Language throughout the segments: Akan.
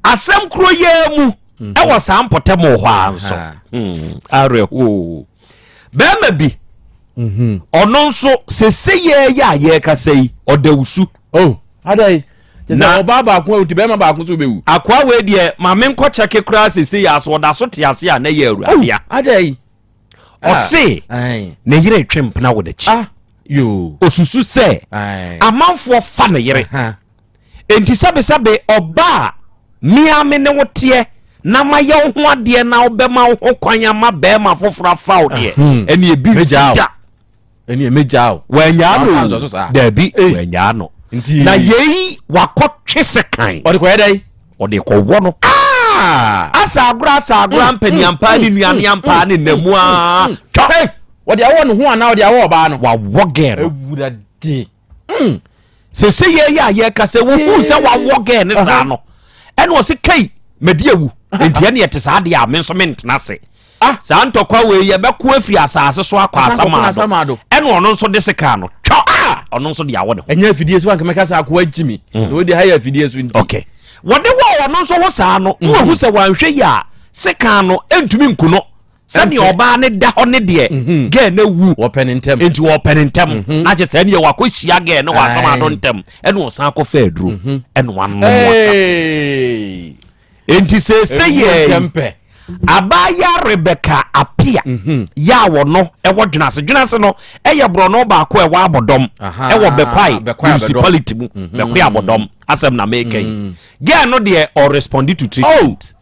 Asɛm koro yi ara mu, mhm. wɔ saa mpɔtam hɔ ara nso, hmm, awerɛhoo bɛrima bi mhm. ɔno nso sese yɛ yɛ a yɛrekasa yi ɔda wusu. Oh, adai na ɔbaa baako awu ti bɛrima baako so bɛwu. akoa wei deɛ maame nkɔkyɛ kekora sese yɛ aso ɔda so te ase a na yɛ awura oh, adai ah, ɔse ne yere twe mpena wɔ n'akyi ah, osusu sɛ amanfoɔ fa ne yere Enti sɛbesɛbe ɔba a me ara me ne wo teɛ na mayɛ wo ho adeɛ na wobɛma wo ho kwan ama barima foforɔ afa wo deɛ, ɛnneɛ ebi nsi Megyaa wo. da. ɛneɛ mɛgyaa wo Wanyaa no Wamfa antoa so o. saa. Daabi, Ei. wanyaa no. Nti- Na yei wakɔtwe sekan. ɔde kɔyɛ dɛn Ɔde kɔwɔ no. Ah! Asaagora asaagora mpaniampaa ne nuaneampaa ne nnamuaa. Twa! Ei, ɔde awɔ ne ho anaa ɔde awɔ ɔbaa no Wawɔ gɛɛ no. awurade Hmm. sese yɛ yɛ a yɛka sɛ wohu sɛ wawɔ gɛɛ ne saa no ɛna ɔse kai madi awu nti ɛne ɛte saa deɛ a me nso mentena ase ah. saa ntɔkwa wei yɛbɛko afiri asase so akɔ asamaado ɛna ɔno nso de sika no twɔ ah! ɔno nso de awɔ ne ho ɛnyɛ afidie so anka mɛka sɛ akoa gyi me hmm. na wode ha yɛ afidie so nti okay. wɔde wɔ ɔno nso ho saa no na hmm. wahu sɛ wanhwɛ yi a sika no ɛntumi nku no sɛdeɛ ɔbaa ne da hɔ ne deɛ mhm. gɛɛ no awu nti wɔpɛ ne ntɛm mhm. na kyɛ sɛ neɛ wakɔhyia gɛɛ ne wɔasam ado ntɛm ɛne ɔsan akɔfa aduro mhm. ɛne wanomwaka enti sɛsɛ yɛ abaayewa rebɛka apia yɛ a wɔno ɛwɔ dwenase dwenase no ɛyɛ borɔno baako ɛwɔ abɔdɔm ɛwɔ bɛkwae municipality mu bɛkwae abɔdɔm asɛm na meka yi gɛɛ no deɛ ɔresponde to treatment oh!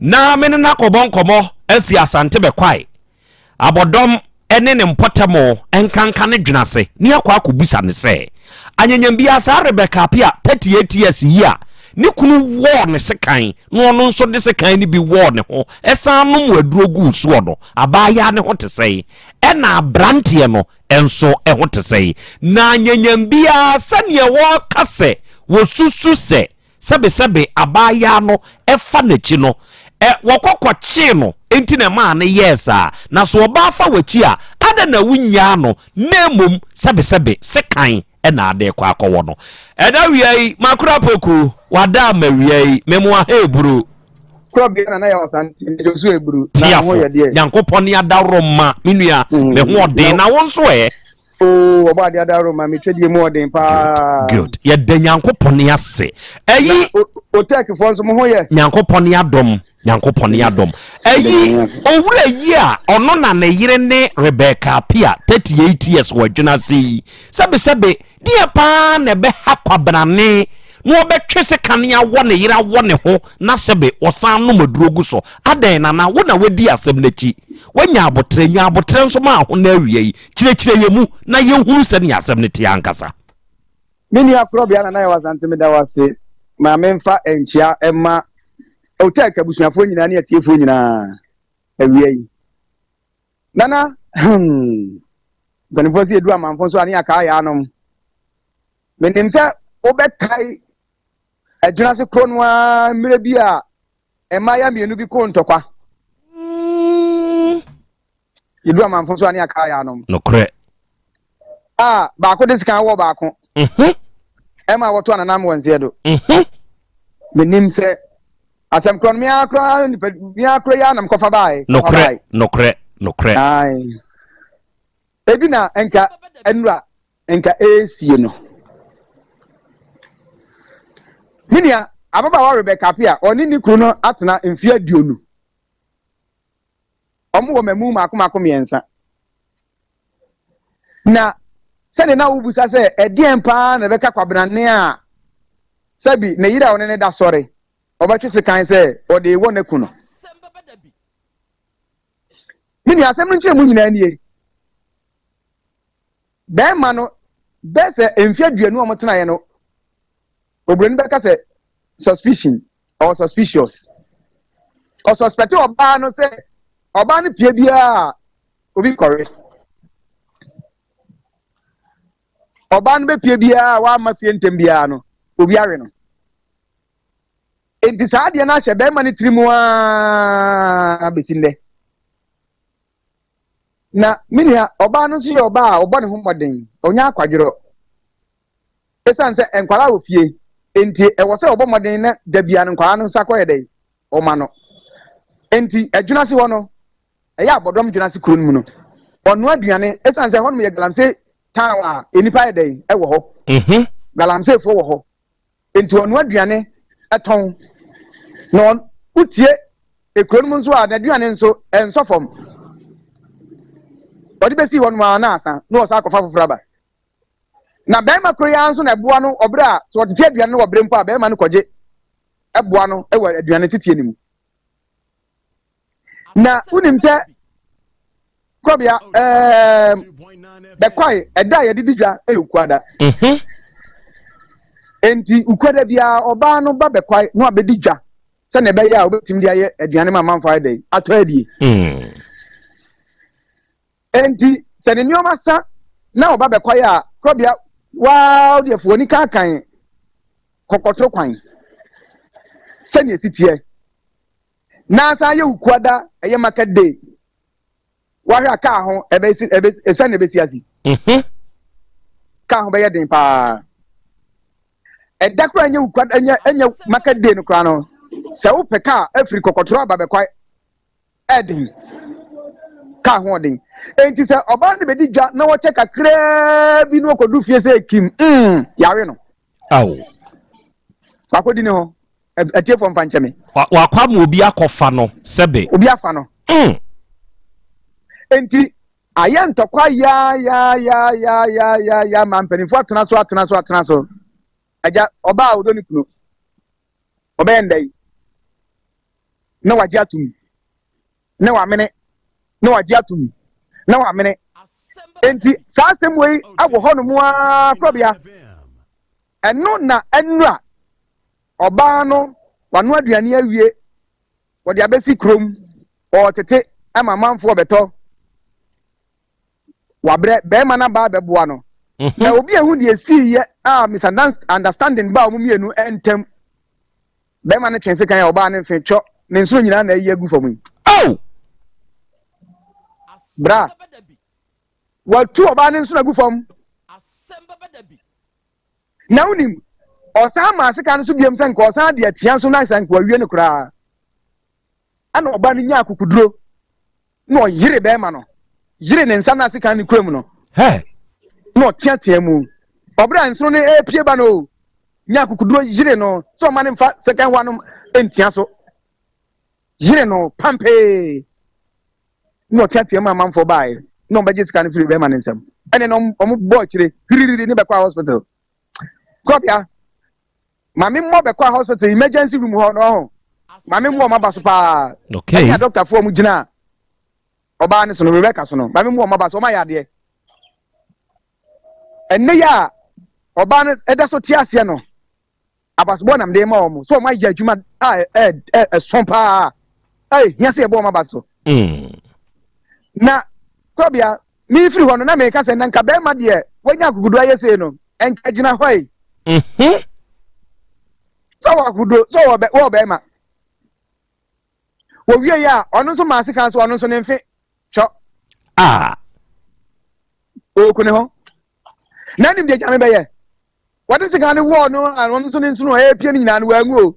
Ná me ne no akɔbɔ nkɔmmɔ afi Asante bɛkwae, abɔdɔm ne ne mpɔtam nkanka no dwene ase, na yɛakɔ akɔbisa no sɛ, anyanyam biara saa Rebecca Apia, 38 years, yi a ne kunu wɔɔ no sekan na ɔno nso de sekan no bi wɔɔ ne ho san nom aduro guu soɔ no, abaayaa no ho te sɛn, ɛnna aberanteɛ no nso ho te sɛn. Ná anyanyam biara sɛdeɛ wɔka sɛ wɔsusu sɛ Sɛbesɛbe abaayaa no fa n'akyi no, ɛ, wɔkɔ kɔkyee no, enti na ɛmaa no yɛɛ saa. Na so ɔbaa fa w'akyi a, adɛn na wunnyaa no, na mmom sɛbesɛbe sekan na ade rekɔ akɔwɔ no? Ɛda wia yi, makora poku, wada ama wia yi, memoa ha eburu. Kura bia na na yɛ ɔsan nti, mede nso eburu, na me ho yɛ deɛ. Tiafo, Nyankopɔn ne adaworoma, me nua, me ho ɔden, na wo nso ɛ? Oh, wɔbɔ adeɛ adaro ma metwa deɛ mu ɔden paa. Good. Yɛda Nyankopɔn ase. Ɛyi. Otɛkifoɔ nso mo ho yɛ. Nyankopɔn adom. Nyankopɔn adom. Ɛyi owura yi a ɔno na ne yere ne Rebecca Apia 38 years wɔ adwene ase yi. Sɛbesɛbe deɛ paa na ɛbɛha kwabenane na wɔbɛtwe se kane awɔ ne yere awɔ ne ho na sɛbe wɔsan nom aduro gu so. Adɛn nana wo na wadi asɛm no akyi. Wanya aboterɛ nya aboterɛ nso ma ho no awia yi. Kyerɛkyerɛ yɛn mu na yɛnhunu sɛdeɛ asɛm no teɛ ankasa. Me nua Korɔbea Nana Yaw Asante meda wo ase ma memfa nkyea mma Otek abusuafoɔ nyinaa ne atiefoɔ nyinaa awia yi. Nana, hmm, mpanimfoɔ sɛ yɛdu amanfo nso a ne yɛakaa yɛ anom. Menim sɛ wobɛkae adwina ase korɔ no ara mmerɛ bi a Mmaayewa mmienu bi koo ntɔkwa. Yɛduru amanfo so a ne akaa yɛanom. Nokorɛ. A baako de sika wɔ baako. Mhm. Ɛma wɔto ananam wɔ nseɛ do. Mhm. Menim sɛ asɛm korɔ no me ara koraa nipa me ara koraa yi ara na mekɔfa baeɛ. Nokorɛ. Nokorɛ. Nokorɛ. Ae. Ebi na nka nnura nka ɛresie no. Me nua ababaawa Rebecca Appiah a ɔne ne kunu no atena mfeɛ aduonu. Wɔwɔ mmamu mmaako mmaako mmiɛnsa. Na sɛdeɛ na wobisa sɛ ɛdeɛn paa na ɛbɛka kwabenanne a sɛbi ne yere a ɔne ne da sɔre ɔbɛtwe sekan sɛ ɔde rewɔ n'aku no. Me nua asɛm no nkyerɛmu nyinaa nie. Bɛɛma no, bɛɛ sɛ mfe aduonu a wɔtenaeɛ no, Oburoni bɛka sɛ, Suspicion, ɔwɔ suspicious. Ɔsuspɛte ɔbaa no sɛ ɔbaa no pie biara a obi kɔre. Ɔbaa no bɛpie biara a wamma fie ntɛm biara no, obi awe no. Enti saa adeɛ no ahyɛ bɛɛma no tiri mu ara bɛsi nnɛ. na me nua ɔbaa no nso yɛ ɔbaa a ɔbɔ ne ho mmɔden ɔnya akwadworɔ ɛsiane sɛ nkwadaa wɔ fie nti ɛwɔ sɛ ɔbɔ mmɔden na da bia no nkwadaa no nsa kɔyɛ dɛn ɔma no nti adwuna se hɔ no ɛyɛ abɔdɔm dwuna se kuro no mu no ɔno aduane ɛsiane sɛ hɔnom yɛ galamsey town a nnipa yɛ dɛn ɛwɔ hɔ mhm. galamseyfoɔ wɔ hɔ Enti ɔnoa aduane tɔn, na wotie kuro no mu nso a n'aduane nso ɛnsɔ fam. Ɔde bɛsii hɔnom ara na asa na ɔsan akɔfa foforɔ aba. Na barima koro yi ara nso na ɛboa no wɔ berɛ a sɛ ɔtete aduane no wɔ berɛ mpo a barima no kɔgye boa no wɔ aduane teteɛ no mu. na wonim sɛ kɔbea ɛɛm bɛkwae ɛda a yɛde di dwa ɛyɛ ukuada mhm. enti ukuada biara ɔbaa no ba bɛkwae na wabɛdi dwa sɛnea ɛbɛyɛ a wobɛtumi de ayɛ aduane ma amanfo ayɛ dɛn atɔ adie mm. enti sɛ ne nneɛma sa na ɔba bɛkwae a kɔbea waa deɛ fo ani kankan kɔkɔtoro kwan sɛnea ɛsi teɛ na asan ayɛ Wukuada, ɛyɛ market day. Woahwɛ a kaa ho ɛbɛsi ɛbɛsi sɛn na ɛbɛsi asi? Mhm. Kaa ho bɛyɛ den paa. Ɛda koraa nyɛ Wukuada nyɛ ɛnyɛ market day no koraa no. Sɛ wopɛ kaa afiri kɔkɔtoro aba bɛkwae ɛden. Kaa ho ɔden. Enti sɛ ɔbaa no bɛdi dwa na wɔkyɛ kakraa bi na wɔkɔdu fie sɛ kim mm yɛawe no. Ao. Wakɔdi ne ho. Atiefoɔ mfa nkyɛ me. Wakɔ ama obi akɔfa no sɛbe. Obi afa no. Mm. Enti ayɛ ntɔkwa yaayaayaayaayaayaa ma mpanimfoɔ atena so atena so atena so. Agya ɔbaa a ɔdɔ ne kunu ɔbɛyɛ ndɛ yi na wagye atom. na wamene, na wagye atom, na wamene. Enti saa asɛm wei wɔ hɔnom ara korabea. Ɛno na nnura ɔbaa no wano aduane awie, wɔde abɛsi kurom, ɔretete ma amanfoɔ bɛtɔ. Wabrɛ barima no aba abɛboa no. Mhm. Na obi ehu deɛ esiiɛ a misunderstanding baa wɔn mmienu ntam. Bɛrima no twe sekan a ɔbaa no mfe twɔ ne nsoro nyinaa na ayi agu fam yi. Oh! Bra. Watu ɔbaa no nsono agu fam. Na wonim, ɔsan maa sekan no so biom sɛ nka ɔsan de atia nso na sɛ nka wawie no koraa. Ɛna ɔbaa no nyaa akukuduro. na ɔyere bɛrima no, yere ne nsa no ase kan ne kura mu no, na ɔteatea mu. Ɔbere a nsono no repie ba no, nya akukuduro yere no sɛ ɔma no mfa second one no ntia so. Yere no pampee na ɔteatea mu amanfoɔ baeɛ na ɔbɛgye sika no firi bɛrima no nsam. Ɛne na ɔmo bɔ akyire hwiriri ne bɛkɔ hospital. Kɔbea Maame mmɔ bɛ kɔɔ hospital emergency room hɔ na ɔho. Maame mmɔ ɔmo aba so paa. Okay. Ɛnna doctor foɔ ɔmo gyinaa ɔbaa ne so no, Rebecca so no, maame mmɔ ɔmo aba so, ɔmo ayɛ adeɛ. Ɛnne yi a ɔbaa no ɛda so te aseɛ no, abasobɔ nam de ma ɔmo. So ɔmo ayɛ adwuma a ɛ ɛ ɛso paa a ehia sɛ yɛbɔ ɔmo aba so. Mm. Na korabea Merefiri hɔ no, na mereka sɛ, na nka barima deɛ wanya akokoduo ayɛ sei no, nka agyina hɔ yi. Sɛ ɔwɔ akokoduo, sɛ ɔwɔ barima. Wɔwie yi a, ɔno nso maa sekan so, ɔno nso ne mfe twɔ. A. Ɔku ne ho. Na anim deɛ gyame bɛyɛ. Wɔde sekan no wɔɔ no a, ɔno nso ne nsono a ɛrepie no nyinaa no, wanwu o.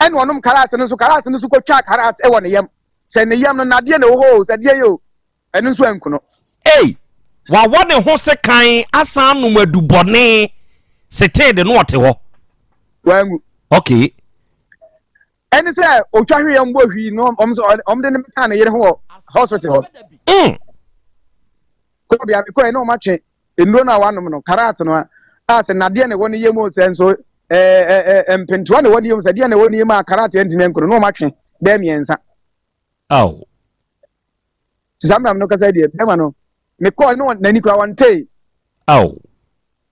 ɛna ɔnom karat no nso karat no nso kɔtwaa karat wɔ ne yam sɛ ne yam no nadeɛ na ɛwɔ hɔ o sɛ deɛ yɛ o ɛno nso anku no. Ei! Wawɔ ne ho sekan asan anom adubɔne setee de na ɔte hɔ. Wanwu. Okay. Ɛne sɛ ɔtwa hweeɛ mbɔ hwii no ɔm sɛ ɔm de no bɛkaa ne yere ho wɔ hospital hɔ. Mm. Kɔɔ bia mekɔɛ na ɔmatwe Nnuro no a wɔanom no, karat no a sɛ nnadeɛ na ɛwɔ ne yam o, sɛ nso ɛɛ mpentewa na ɛwɔ ne yam, sɛ deɛ na ɛwɔ ne yam a karat antumi anku no, na wɔatwe bɛyɛ mmiɛnsa. Ao. Te saa mmerɛ no kasa deɛ, bɛrima no, mekɔɔ no n'ani koraa wɔntee. Ao.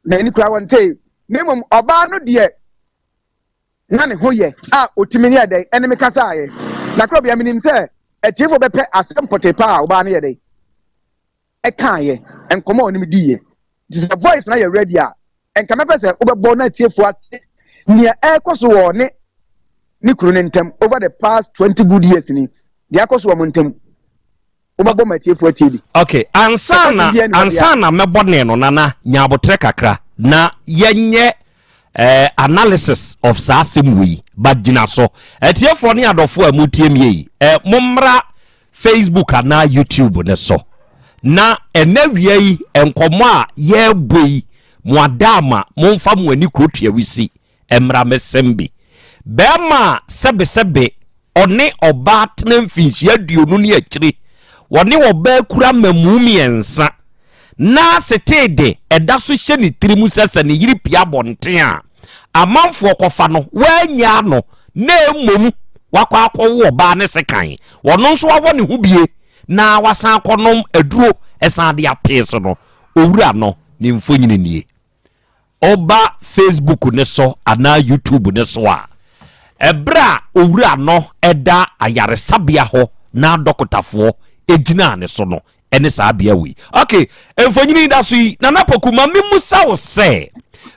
N'ani koraa wɔntee. Na mmom ɔbaa no deɛ na ne ho yɛ a ɔtumi ne yɛ dɛn ɛne me kasaeɛ. Na korɔ bia menim sɛ atiefoɔ bɛpɛ asɛm pɔtee paa a ɔbaa no yɛ dɛn. ɛkaeɛ, nkɔmmɔ a ɔnem diiɛ. Nti sɛ voice no ayɛ ready a, nka mɛpɛ sɛ wobɛbɔ na atiefoɔ ate nea ɛrekɔ so wɔ ɔne ne kunu no ntam over the past twenty good years ni, deɛ akɔ so wɔ wɔn ntam. Wobɛbɔ ma atiefoɔ atie bi. Ok, ansa Sɛ na question biara ni hɔ deɛ ansa a, na mɛbɔ ne no, Nana, nya aboterɛ kakra na yɛnyɛ eh, analysis of saa asɛm wei, but gyina so. Atiefoɔ ne adɔfoɔ a motie me yi, eh, mommra Facebook anaa YouTube no so. Na ɛnɛ wia yi nkɔmmɔ a yɛrebɔ yi, mo adaama momfa mo ani kuro tuawisi mmra mesɛm bi. Bɛrima a sɛbesɛbe ɔne ɔbaa tena mfinhyia aduonu ne akyiri, wɔne ɔbaa kura mmamu mmiɛnsa, na setee de ɛda so hyɛ ne tiri mu sɛ sɛ ne yere pia abɔnten a, amanfoɔ kɔfa no, woannyaa no, na mmom wakɔ akɔwo ɔbaa ne sekan, ɔno nso awɔ ne ho bie na wasan akɔnom aduro san de apee so no, owura no ne mfonyini nie. Woba Facebook no so anaa YouTube no so a, ɛberɛ a owura no da ayaresabea hɔ na dɔkotafoɔ gyinaa ne so no, ne saa bea wei. Ok, mfonyin da so yi, Nana Poku, ma mimmisa wo sɛ,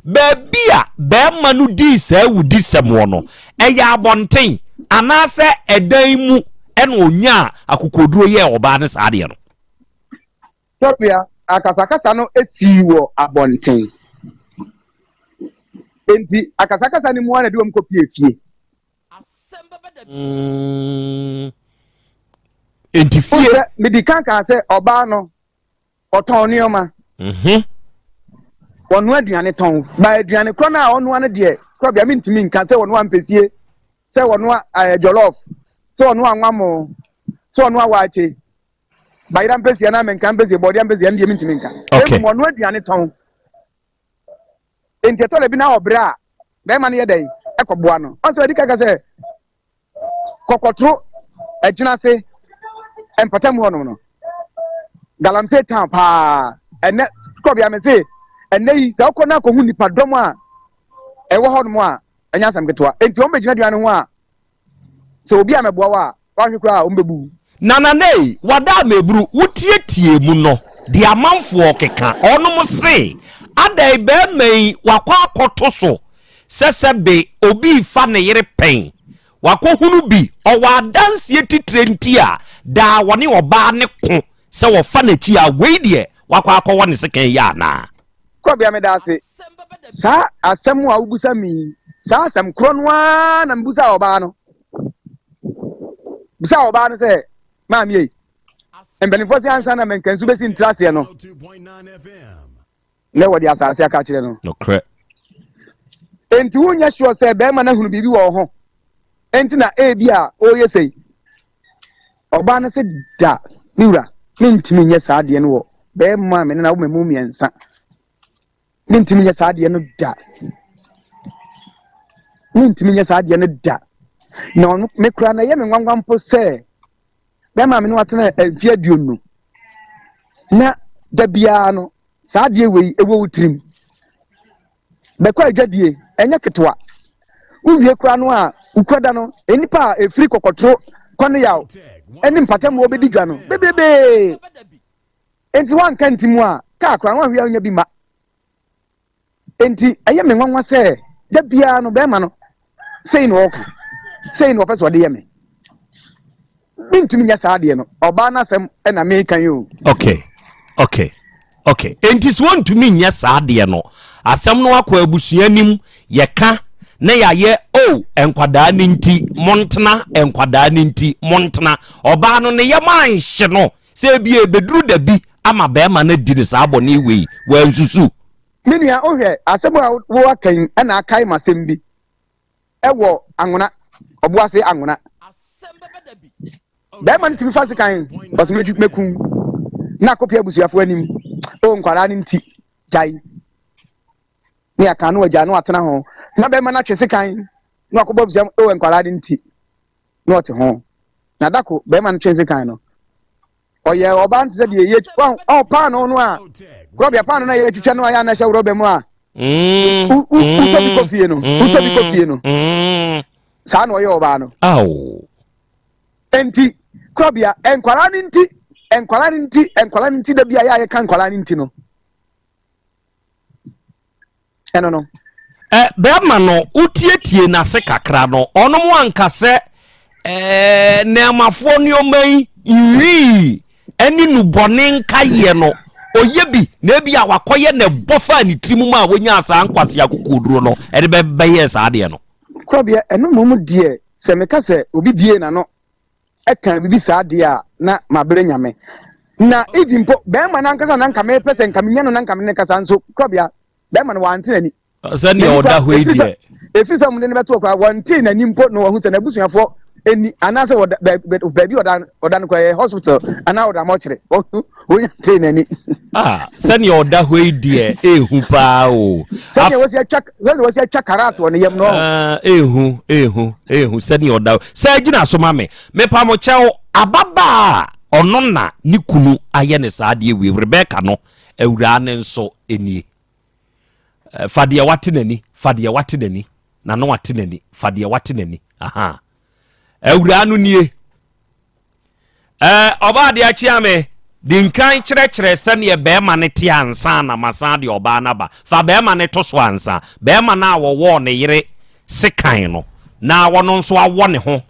baabi a barima no dii saa awudisɛm wɔ no, ɛyɛ abɔnten anaasɛ ɛdan mu na onyaa akokoɔduro yɛɛ ɔbaa no saa adeɛ no? Tɔpia, akasakasa no sii wɔ abɔnten. Enti akasakasa no mu ara na ɛde wɔn kɔpuee fie. Mm. Enti fie. Sɛ medi kan kaa sɛ ɔbaa no ɔtɔn nneɛma. Mhm. Wɔnoa aduane tɔn. Ba aduane korɔ no a ɔnoa no deɛ korɔ bia mentumi nka sɛ wɔnoa mpɛsie, sɛ wɔnoa ɛɛ eh, jollof, sɛ wɔnoa nwamo, sɛ wɔnoa waakye. Bayera mpɛsie anaa menka mpɛsie, bɔɔdeɛ mpɛsie ɛno deɛ mentumi nka. Okay. Emu wɔnoa aduane tɔn. Enti ɛtɔ da bi na ɔbrɛ a, barima no yɛ dɛn? Ɛkɔboa no. Ɔn sɛ ɔde kaka sɛ, kɔkɔtoro ɛgyina ase mpɔtam hɔ nom no. Galamsey town paa. Ɛnɛ, kɔ bia me se, ɛnɛ yi, sɛ ɔkɔ na akɔhu nipa dɔm a ɛwɔ hɔ nom a, ɛnyɛ asɛm ketewa. Enti wɔn bɛgyina duane ho a, Sɛ obi ammɛboa wo a, woanhwɛ koraa a, wɔbɛbu wo. Nananei, wada a meburu, wotiatiee mu no, deɛ amanfoɔ rekeka, wɔnom se, Adɛn, barima yi, wakɔ akɔto so sɛ sɛ be obi refa ne yere pɛn, wakɔhunu bi, ɔwɔ adanseɛ titire nti a daa wɔne ɔbaa no ko sɛ wɔfa n'akyi a, wei deɛ, wakɔ akɔwɔ ne sekan yi anaa? Kurɔbea meda ase. Saa asɛm a wobusa me yi, saa asɛm korɔ no ara na mebusa ɔbaa no. Bisa ɔbaa no sɛ, maame yi, mpanimfoɔ sɛ ansa na mankansu bɛsi ntraseɛ no, na wɔde asase aka kyerɛ no. Nokorɛ. Enti wonyɛ sure sɛ bɛrima no ahunu biribi wɔ wo ho, enti na ebi a ɔreyɛ sei. Ɔbaa no se, Da, me wura, mentumi nyɛ saa adeɛ no wɔ barima a me ne no awo ma mu mmiɛnsa. Mentumi nyɛ saa adeɛ no da. Mentumi nyɛ saa adeɛ no da. Na ɔno me kura na ɛyɛ me nwanwa mpo sɛ bɛrima a me ne watena mfeɛ aduonu na da biara no saa adeɛ wei ɛwɔ wo tirim. bɛkɔ adwadie, ɛnyɛ ketewa. Wowie koraa no a, wukura da no, nnipa a ɛfiri kɔkɔtoro, kwaneyaw, ne mpatamu hɔ bɛdi dwa no bebrebee. Enti woanka ntimu a, kaa koraa no woanhwɛ a wonya bi mma. Enti ɛyɛ me nwanwa sɛ da biara no bɛrima no sei na ɔka sei na ɔpɛ sɛ ɔde yɛ me mentumi nyɛ saa adeɛ no ɔbaa no asɛm na meka yi o okay okay okay enti sɛ ɔntumi nyɛ saa adeɛ no asɛm no akɔ abusua anim yɛka na yɛayɛ o oh, nkwadaa no nti montena nkwadaa no nti montena ɔbaa no ne yɛ ma nhye no sɛ ebi ebeduru dabi ama bɛrima no adi ne saa bɔne wei wɔansusu Me nua wohwɛ asɛm a wo aka yi na akae m'asɛm bi wɔ Anwona, Ɔboase Anwona. Bɛrima no tumi fa sekan ɔsɛ mɛtwi mɛku na akɔpia abusuafoɔ anim. O nkwaraa no nti gyae ne aka no agya no atena ho na bɛrima no atwe sekan na wakɔbɔ abusua o nkwaraa no nti na ɔte ho. Na dako bɛrima no twe sekan no. ɔyɛ ɔbaa no te sɛ deɛ yɛ ɔn paano no a rɔbia paano no a yɛtwitwa no a yɛ anɛhyɛ rɔba mu a wotɔ bi kɔ fie no wotɔ bi kɔ fie no saa na ɔyɛ ɔbaa no nti kurɔbea nkwaraa no nti nkwaraa no nti nkwaraa no nti da bi a yɛ a yɛka nkwaraa no nti no ɛno no. Ɛ bɛrima no, wotietiee n'ase kakra no, ɔnom anka sɛ ɛɛ nnɛɛmafoɔ nneɛma yi nhwii ɛne nnubɔne nkaeɛ no, ɔyɛ bi na ebi a wakɔyɛ na ɛbɔ faa ne tirim maa wɔnyaa saa nkwasea kokoɔduro no, ɛde bɛ bɛyɛɛ saa adeɛ no. Korɔbeɛ, ɛno mmom deɛ, sɛ meka sɛ obi bue n'ano ɛka biribi saa deɛ a na mabrɛ nyame na even mpo bɛrima no ankasa na nka mepɛ sɛ nka menya no na nka me ne kasa nso korabea bɛrima no wante n'ani sɛdeɛ ɔda hɔ yi deɛ ɛfiri sɛ ɔmde no bɛtoɔ koraa wɔntee n'ani mpo na wɔhu sɛ n'abusuafoɔ ɛni anaasɛ baabi ɔda no koraa yɛ hospital anaa ɔda mɔkyere Wonya tee n'ani. Ah, sɛnea ɔda hɔ yi deɛ ehu paa o. Sɛnea wɔsi atwa sɛnea wɔsi atwa karat wɔ ne yam no. Ah, ehu ehu ehu sɛnea ɔda hɔ. Sɛ gyina so ma me. Mepa mo kyɛw ababaa a ɔno na ne kunu ayɛ ne saa adeɛ wie Rebecca no awuraa ne nso nie. Eh, fa deɛ wate n'ani, fa deɛ wate n'ani, na no ate n'ani, fa deɛ wate n'ani. Aha. Awuraa no nie. Ɛɛ, ɔbaa adeɛ akyea me. Di nkan kyerɛkyerɛ sɛdeɛ barima no te ansa na masan de ɔbaa no aba. Fa barima no to so ansa. Barima no a wɔwɔɔ ne yere sekan no, na ɔno nso awɔ ne ho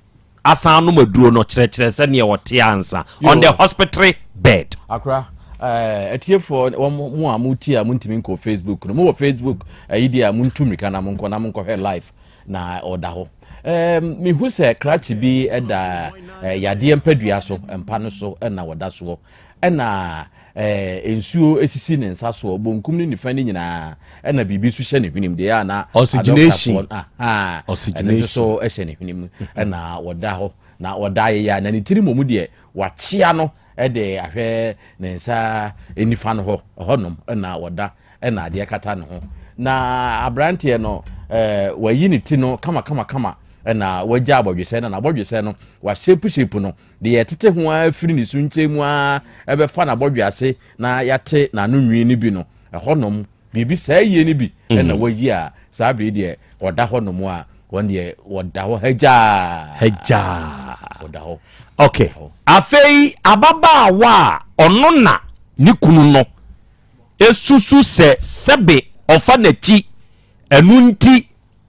asan anom aduro no, kyerɛkyerɛ sɛdeɛ ɔte ansa. On the hospitary bed. Akora, ɛɛ, atiefoɔ wɔn mo a motie a montumi nkɔ Facebook no, mowɔ Facebook ayi deɛ a montu mmirika na monkɔ na monkɔhwɛ live. na ɔda hɔ. Um, mehu sɛ krakye bi da uh, yadeɛ mpadua so, mpa no so na ɔda soɔ. Ɛna uh, nsuo sisi ne nsa soɔ, bonkum ne nifa no nyinaa, ɛna biribi nso hyɛ ne hwenem deɛ a na adɔktafoɔ ɛno nso so hyɛ ne hwenem ɛna ɔda hɔ na ɔda ayeyɛ na ne tiri mmom deɛ wakyea no de ahwɛ ne nsa nifa no hɔ, ɛhɔnom na ɔda na adeɛ kata ne ho. Na aberanteɛ no, eh, wayi ne ti no kama kama kama na wagya abɔdwesɛ no na abɔdwesɛ no wahyɛpu hyɛpu no de yɛtete ho ara firi ne so nkyɛn mu ara ɛbɛfa n'abɔdwe ase na yɛate n'ano nwi no bi no ɛhɔnom Biribi saa yie no bi na wayi a, saa bere yi deɛ ɔda hɔ nom a, wɔn deɛ wɔda hɔ hagyaa. Hagyaa. Ɔda hɔ. Okay. Afei ababaawa a ɔno na ne kunu no esusu sɛ sɛbe ɔfa n'akyi, ɛno nti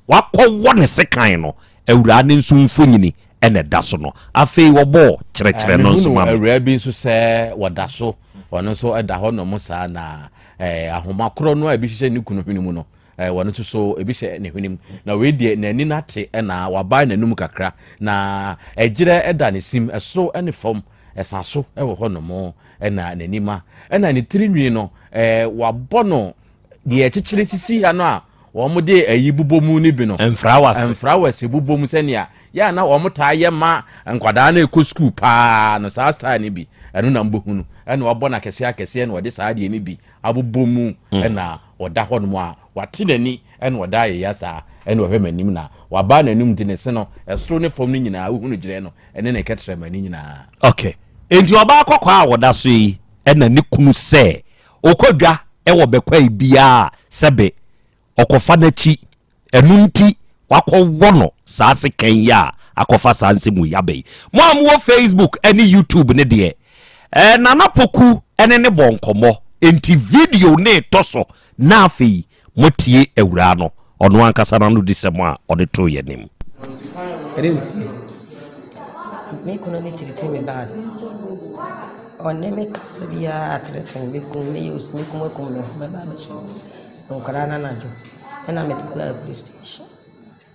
Wɔakɔwɔ ne sekan no. Awuraa no nso mfonini na ɛda so no. Afei wɔbɔɔ, Kyerɛkyerɛ no nso ma me. Mehunuu awuraa bi nso sɛ wɔda so, ɔno nso da hɔ nom saa, na ahoma korɔ no a ebi hyehyɛ ne kunu hwene mu no, wɔn nso so ebi hyɛ ne hwenem. Na wei deɛ n'ani no ate na wabae n'anom kakra, na ɛgyerɛ da ne sim, soro ne fam, ɛsa so wɔ hɔ nom, ɛna n'ani ma, ɛna ne tiri nwi no wɔabɔ no Deɛ ɛkyekyere sisi ha no a wɔde ayi bobɔ mu no bi no, ɛmfra wo ase bobɔ mu sɛnea yɛ a na wɔtaa yɛ ma nkwadaa no rekɔ sukuu pa ara no, saa style no bi, ɛno na mobɛhu no, ɛnna wɔabɔ no akɛseɛ akɛseɛ na wɔde saa adeɛ no bi abobɔ mu, ɛnna ɔda hɔnom a wate n'ani, ɛnna ɔda ayeyɛ saa, ɛnna ɔhwɛ m'anim na waba n'anom nti ne se no, ɛsoro ne fam no nyinaa, wohu no gyerɛ no, ɛne ne kɛtrɛma no nyinaa. Okay, enti ɔbaa kɔkɔɔ a ɔda so yi na ne kunu sɛ Ɔkɔ dwa wɔ bɛkwae biara a, sɛbe ɔkɔfa n'akyi. Ɛno nti wɔakɔwɔ no saa sekan yi a akɔfa saa nsɛm wei aba yi. Mo a mowɔ Facebook ne YouTube no deɛ, Nana Poku ne ne bɔ nkɔmmɔ. Enti video no retɔ so na afei Moatie Awuraa no, ɔno ankasa n'anodisɛm a ɔde too yɛn anim. Ɛdɛn ntie? Me kunu ne tiriti me bag. Ɔne me kasa biara atrɛten me kum me use me kum akum me ho bɛba abɛhyɛ nkwadaa no anadwo ɛna mede kɔ police station.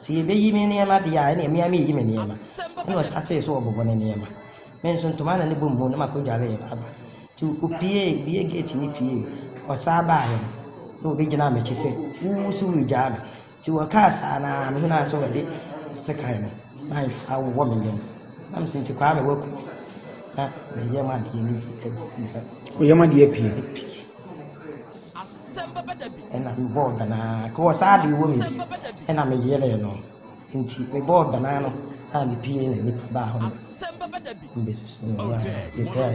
Sɛ yɛbɛyi me nneɛma deɛ a, ɛnneɛ me ara mereyi me nneɛma. Ɛnna ɔstartee so ɔbobɔ ne nneɛma. Me nso, ntoma a na ne bom hu na makɔdware yɛ aba. Nti ɔpuee, ɔbuee gate no puee. Ɔsan baeɛ no, na ɔbɛgyinaa m'akyi sɛ, Wo so woregyaa me? Nti ɔkaa saa no ara, mehunuu ara sɛ ɔde sekan no, knife, awowɔ me yam. Na mese, Nti Kwame, woaku me? Na me yam adeɛ no bi agu. Wo yam adeɛ apue? Apue. na mebɔɔ danaa kɔɔ saa de wɔ me bi na me yeree no nti mebɔɔ danaa no a mepie na nipa baa hɔ no mbesusu me ho a yɛkura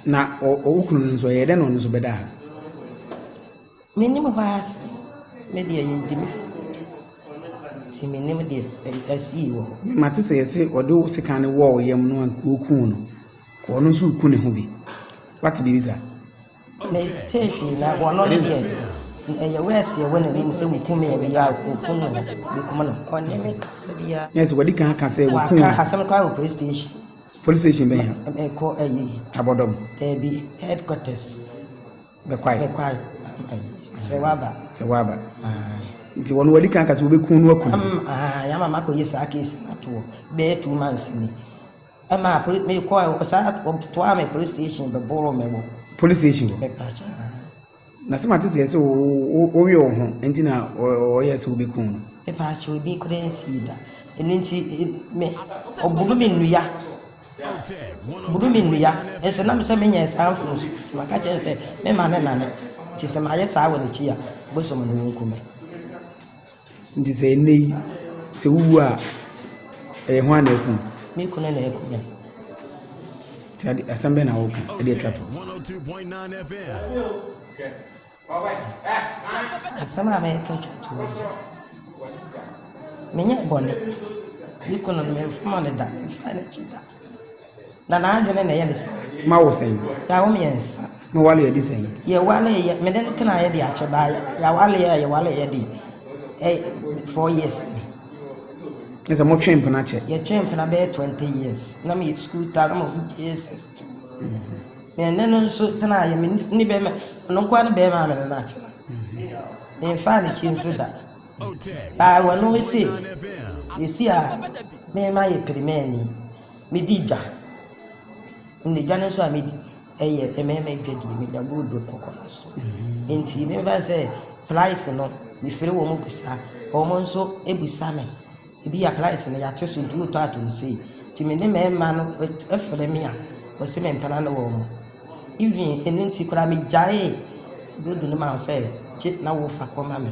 na ɔwo kunu no nso ɛyɛ dɛ na ɔno nso bɛda a menim hɔ ase me deɛ yɛdi me fo nti menim deɛ ɛsii wɔ hɔ mate sɛ yɛse ɔde wo sekan no wɔɔ yam no a wɔkuu no Kɔ ɔno nso reku ne ho bi. Wate biribi saa? Metee hwee na wɔn no deɛ ɛyɛ wɛɛse ɛwɔ n'anim sɛ wokum yɛ bi a wokum no wokum no ɔne me kasa bi a. Nurse wɔde kan aka sɛ wokum wɔn. Waka asɛm kɔ wɔ police station. Police station bɛn ha? Ɛkɔ ayi. Abɔdɔm. Ɛbi headquarters. Bɛkwae. Bɛkwae ayi sɛ waba. Sɛ waba. Nti wɔn wɔde kan aka sɛ wobɛkum no akum. Am ayi ama makɔ yɛ saa case ato bɛyɛ two months ni. Ɛmaa poli me kɔɔ ɛ saa wɔtoaa me police station bɛboroo me wɔ. Police station hɔ. Mepakyɛ ha. Na sɛ mate sɛ sɛ wo wo woyɛ wo ho nti na ɔyɛ sɛ obi kun no. Mepakyɛ obi kura nsii da ɛno nti me ɔbunu me nnua bunu me nnua nso nam sɛ menyɛ saa mfom so nti maka kyerɛ sɛ me ma ne nane nti sɛ mayɛ saa wɔ n'akyi a bosom no wɔnku me. Nti sɛ ɛnnɛ yi, sɛ wowu a, ɛyɛ hwan na ɛkum? Me kunu na ɛkum me. Nti ade asɛm bɛn na wɔka ɛde atwa to? Asɛm a mɛka atwa to hɔ sɛ, menyɛ bɔne. Me kunu no, memfoma no da, memfa no akyi da. Na n'adwene na ɛyɛ ne saa. Ma wo sɛn? Yɛawo mmiɛnsa. Mo waleɛ di sɛn? Yɛwaleɛ, me ne no tenaeɛ de akyɛ baa yɛawaleɛ a yɛwaleɛ de ɛ four years ni. Ne sɛ motwe mpena kyɛ? Yɛtwe mpena bɛyɛ twenty years. Na meyɛ sukuu taa na mahu JSS two. Me ne no nso tenaeɛ, me ne bɛrima, ɔno nko ara ne bɛrima a me ne no atena. Memfaa n'akyi nso da. Baa wɔ no ese yesi a me ma yɛ pirimɛni me di dwa ne dwa no so a me di ɛyɛ mɛma dwa di me dwa gold do kɔkɔ no so nti me ba sɛ price no me fere wɔ mo bisa wɔ mo nso e bisa me ebi ya price no ya te so nti wotɔ ato ne sei nti me ne mɛma no ɛfere me a wɔ se me mpana no wɔ mo even enu nti kora me gyae gold no ma sɛ kye na wofa kɔ ma me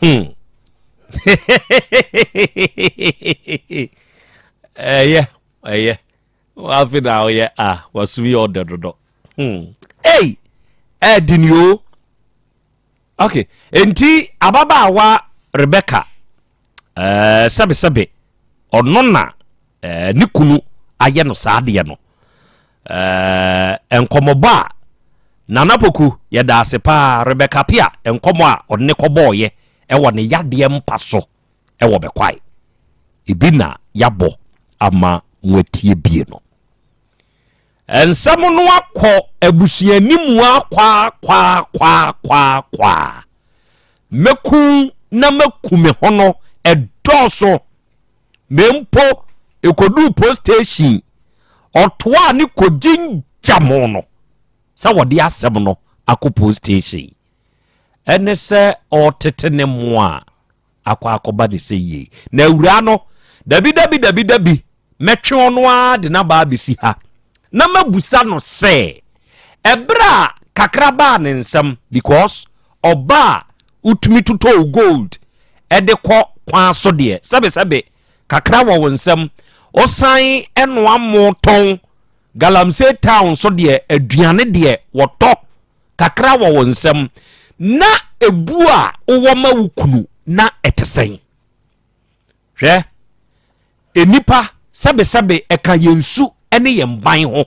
Hmm. ɛyɛ ɛyɛ wafe na ɔyɛ a wasum yɛ ɔdɛ dodo hmm. ei ɛdi ni o ok nti ababaawa rebecca Ɛɛ, sɛbesɛbe ɔno na ɛɛ, ne kunu ayɛ no saa adeɛ no. Ɛɛ, nkɔmmɔbɔ a Nana Poku yɛda ase paa Rebecca Pia nkɔmmɔ a ɔde ne kɔbɔɔyɛ ɛwɔ ne yadeɛ mpa so ɛwɔ bɛkwae. Ebi na yɛabɔ ama moatie bie no. Nsɛm no akɔ abusuani mu ara kwaa kwaa kwaa kwaa kwaa. Mɛku na maku me ho no ɛdɔɔso. Me mpo ɛkɔduu post station ɔtoaa ne kɔgyin gya mo no sɛ wɔde asɛm no akɔ post station. Ɛne sɛ ɔtete ne mmoa a. akɔ akɔba ne sɛ yie. Na awuraa no, Dabi, dabi, dabi, dabi, mɛtwe ɔno ara de no aba abɛsi ha, na mɛbusa no sɛ, ɛberɛ a kakra baa ne nsam, because ɔba a wotumi totɔ wo gold de kɔ kwan so deɛ, sɛbesɛbe kakra wɔ wo nsam, wosan noa mo tɔn, Galamsey town nso deɛ, aduane deɛ wɔtɔ kakra wɔ wo nsam na ebu a wowɔ ma wo kunu na ɛte sɛn? Hwɛ, nnipa sɛbesɛbe ɛka yɛn su ne yɛn ban ho.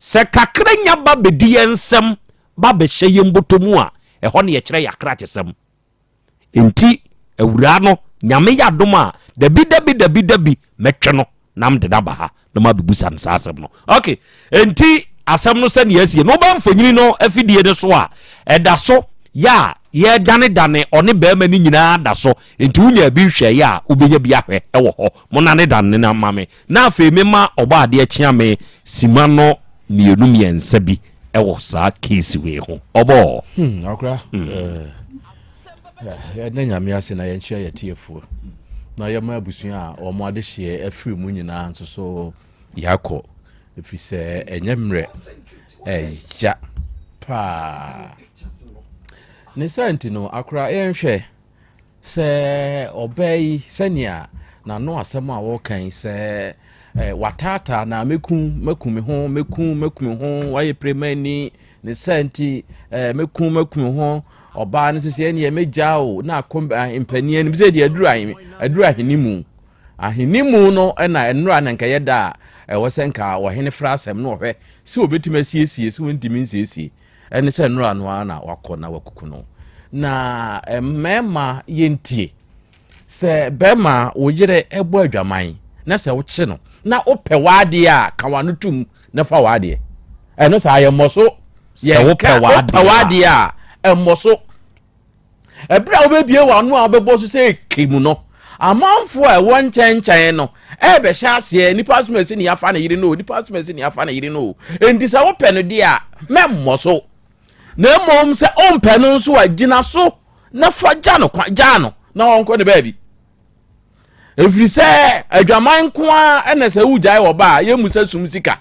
Sɛ kakra nya ba bedi yɛn nsam ba bɛhyɛ yɛn bɔtɔ mu a, ɛhɔ na yɛkyerɛ yɛn akrakyesɛm. Enti Awuraa no, Nyame yɛ adom a, dabi dabi dabi dabi mɛtwe no na mede no aba ha na mabɛbusa no saa asɛm no. Ok, enti asɛm no sɛdeɛ asie no, wobɛ mfonyini no afidie no so a, ɛda so yɛ a yɛredane dane ɔne barima no nyinaa da so, enti wonyaa bi hwɛeɛ a, wobɛnya bi ahwɛ wɔ hɔ. Monane dane no mma me na afei memma ɔbɔadeɛ kyeame sima no mmienu mmiɛnsa bi ɛwɔ saa case wei ho ɔbɔɔ. Hmm, akora hmm. eh, yɛda nyame ase na yɛnkyerɛ yɛ tiefoɔ na yɛma abusua a wɔn adehyeɛ afiri mu nyinaa nso so yɛakɔ ɛfiri sɛ ɛnyɛ mmerɛ ɛya paa ne saa nti no akora yɛnhwɛ Sɛ ɔbaa yi, sɛnea n'ano asɛm a ɔreka yi, sɛ wataataa na mɛku mɛku me ho mɛku mɛku me ho wayɛ pirimani ne saa nti mɛku mɛku me ho ɔbaa no nso sɛ ɛneɛ mɛgya o na akɔ mpanin anim sɛ deɛ aduru aduru ahene mu ahene mu no ɛna nnora na nka yɛda a ɛwɔ sɛ nka ɔhene fra asɛm no ɔhwɛ sɛ ɔbɛtumi asiesie sɛ ɔntumi nsiesie Ɛne sɛ nnora no ara na wakɔ na wakuku no. Na mmarima yɛntie. Sɛ bɛrima wo yere bɔ adwaman na sɛ wokye no na wopɛ w'adeɛ a ka w'ano tom na fa w'adeɛ. Ɛno saa yɛmmɔ so. Sɛ wopɛ w'adeɛ a ɛmmɔ so. Bere a wobebue w'ano a wobɛbɔ so sɛ eke mu no, amanfo a ɛwɔ nkyɛnkyɛn no rebɛhyɛ aseɛ, nnipa asom asi ne afa ne yere no o, nnipa asom asi ne afa ne yere no o. Enti sɛ wopɛ no deɛ a, mɛmmɔ so. Na mmom sɛ wompɛ no nso a, gyina so na fa gya no kwan, gyaa no na ɔnkɔ ne baabi. Ɛfiri sɛ adwaman nko ara na sɛ wogyae ɔba a, yɛmmu sɛ sum sika.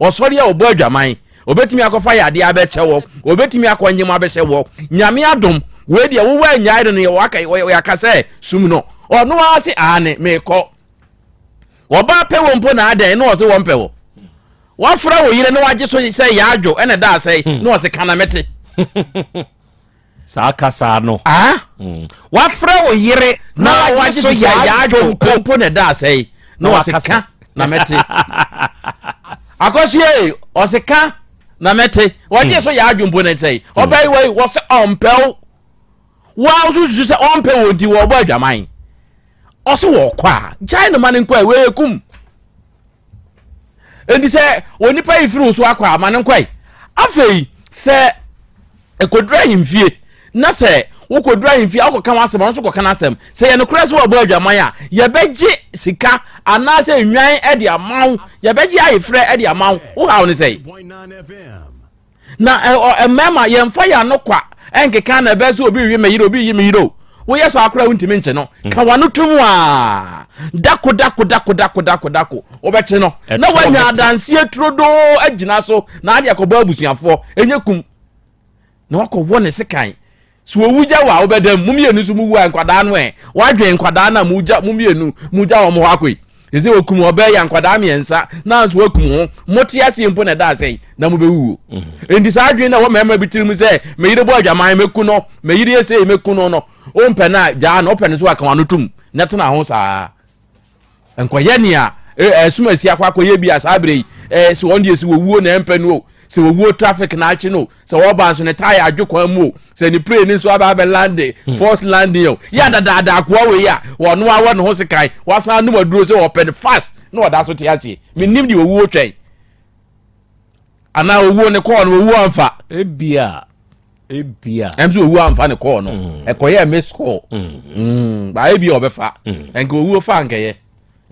Ɔsɔre a ɔbɔ adwaman, ɔbɛtumi akɔfa yadeɛ abɛkyɛ wɔ, ɔbɛtumi akɔ nyem abɛhyɛ wɔ. Nyame adom, wei deɛ wo woannyae no no yɛ waka, yɛ aka sɛ sum no. Ɔno ara se aane, mekɔ. Ɔbaa pɛ wɔ mpo na adɛn, na ɔse wɔmpɛ wɔ. Wafra wo yere na wagye so sɛ yaadwo ɛna ɛda asɛe, na ɔse ka na mete. Saa kasa no. Ah? Wafrɛ wo yere na wagye so yɛ yaadwo mpo. Mpo na ɛda asɛe. Na wɔse ka na mɛte. Akɔsoɛ e, ɔse ka na mɛte. Wɔgye so yɛ adwo mpo na ɛsɛe. Ɔbaa yi wɔ wɔse ɔmpɛ wo. Woa wo so susu sɛ ɔmpɛ wo nti wɔbɔ adwaman. Ɔse wɔkɔ a, gyae no ma no nkɔ a, wei ekum. Enti sɛ onipa yi firi wo so akɔ a, ma no nkɔ ɛ. Afei, sɛ ɛkɔduru ahemfie, na sɛ wokɔduru ahemfie a wokɔka w'asɛm, ɔno nso kɔka n'asɛm. Sɛ yɛ nokorɛ sɛ wɔabɔ adwaman a, yɛbɛgye sika anaasɛ nnwan de ama wo, yɛbɛgye ayefrɛ de ama wo. Wo haw ne sɛn? Na ɛ-ɔ, mmarima, yɛmfa yɛn ano kwa nkeka na ɛbɛyɛ sɛ obi rewe me yere, obi reyi me yere o. Woyɛ saa koraa a, wontumi nkye no. Mm. Ka w'ano to mu ara. Dako, dako, dako, dako, dako, dako. Wobɛkye no. Ɛtoɔ Na woanya hete. adanseɛ turodoo agyina so, na ade akɔbɔ abusuafoɔ. Ɛnyɛ kum. Na wakɔwɔ ne sekan. So owu gya wo a wobɛda mu? Mo mmienu nso muwu a, nkwadaa no ɛ? Woadwen nkwadaa no a mogya, mo mmienu mogya wɔn hɔ akɔ yi? Ɛsɛ okum ɔbaa yi a nkwadaa mmiɛnsa na nso wakum ho. Mote aseɛ mpo na ɛda asɛe na mobɛwuwuo. Mm-hmm. Enti saa adwene na ɛwɔ mmarima bi tirim sɛ me yere bɔ adwaman mɛku no, me yere yɛ sei mɛku no no. Wompɛ no a gyaa no, wopɛ no nso aka wano tom na tena ho saa. Nkɔyɛ nea ɛsom asi akɔ akɔyɛ bi a saa berɛ yi eh, sɛ wɔn deɛ sɛ wɔwuo na ɛmpɛ no o, sɛ wɔwuo traffic na akye no o, sɛ wɔba nso ne tae adwo kwan mu o, sɛ ne plane nso aba abɛ lande, hmm. force landing o. Yɛ adadaada akoa wei a, wɔno awɔ ne ho sekan, wasan anom aduro sɛ wɔpɛ no fast na wɔda so te aseɛ. Menim deɛ wɔwuo twɛn. Anaa wɔwuo ne kɔɔ no wɔwuo amfa. Ebia. ebia ɛm sɛ owu amfa ne kɔɔ no mm. ɛkɔyɛ miss call mm-hmm. mm, ba ebia ɔbɛfa mm. ɛnka owuo fa nkɛyɛ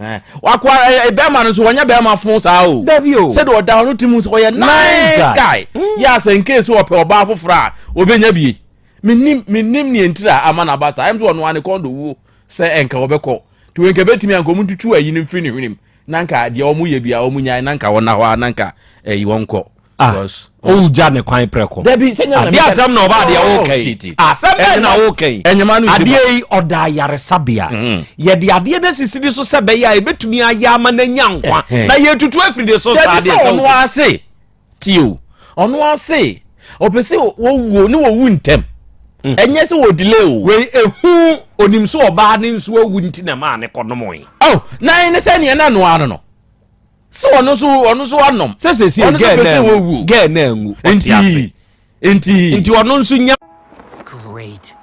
eh, wakɔ eh, eh, bɛrima no nso wɔnyɛ bɛrima fo saa o sɛde ɔda hɔ no ti mu sɛ ɔyɛ nice guy yɛ asɛ nkee sɛ ɔpɛ ɔbaa foforɔ a ɔbɛnya bie menim menim neɛ ntiri a ama no aba saa ɛm sɛ ɔno ane kɔn do wuo sɛ ɛnka ɔbɛkɔ nti wei nka bɛtumi anka ɔmu ntutu ayi no mfiri ne hwenem na nka deɛ ɔmo yɛ bia ɔmo nyae na nka ɔna hɔ a na nka ɛyi wɔnkɔ Ah, wogya ne kwan prɛko adeɛ asɛm na ɔba adeɛ woka yi asɛm bɛn na woka yi adeɛ yi ɔda ayaresabea mm-hmm. yɛde adeɛ no asisi ne so sɛ bɛyɛ a ɛbɛtumi ayɛ ama no anya nkwa na yɛtutu afiri ne so saa adeɛ sɛ ɔno ase tio ɔno ase ɔpɛ sɛ wɔwuo ne wɔwu ntɛm mm. ɛnyɛ sɛ wɔ delay o wei ɛhu onim sɛ ɔbaa ne nso awu nti na maa ne kɔnom yi oh, na ɛne sɛ neɛ na noa no no sɛ ɔno nso ɔno nso anom. sɛ sɛsi ɔno nso pɛ wɔwu. gɛɛ na anwu ɔte ase nti nti ɔno nso nya. Great.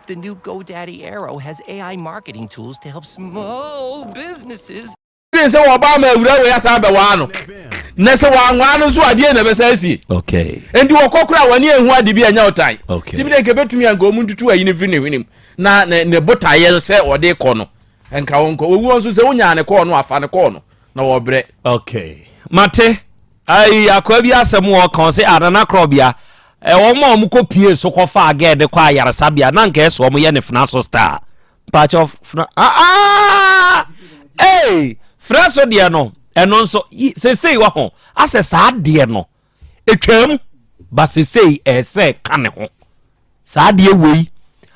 The new GoDaddy Aero has AI marketing tools to help small businesses. Ɛne sɛ wɔba ama awura wei asan bɛwaa no na sɛ wɔanwaa no nso adeɛ na ɛbɛsan asie ɛnti wɔkɔ kora wɔne ɛhu ade bi anya ɔtan timi dɛ nka bɛtumi anka ɔmu ntutu ayi no mfiri ne hwenem na ne botaeɛ sɛ ɔde kɔ no Nka wo nkɔ owuo nso sɛ wonyaa ne kɔɔ no a fa ne kɔɔ no na wɔbrɛ. Okay mate ayi akoa bi asɛm wɔ ɔka ɔse a nana krɔbea wɔn a wɔn kɔ pie so kɔ faa gɛɛ de kɔ ayaresabea na nka ɛsɛ wɔn yɛ ne fena so star mpakyɛ fena aa ee fena so deɛ no ɛno nso sesei wɔ ho asɛ saa deɛ no etwam ba sesei ɛsɛ ka ne ho saa deɛ wei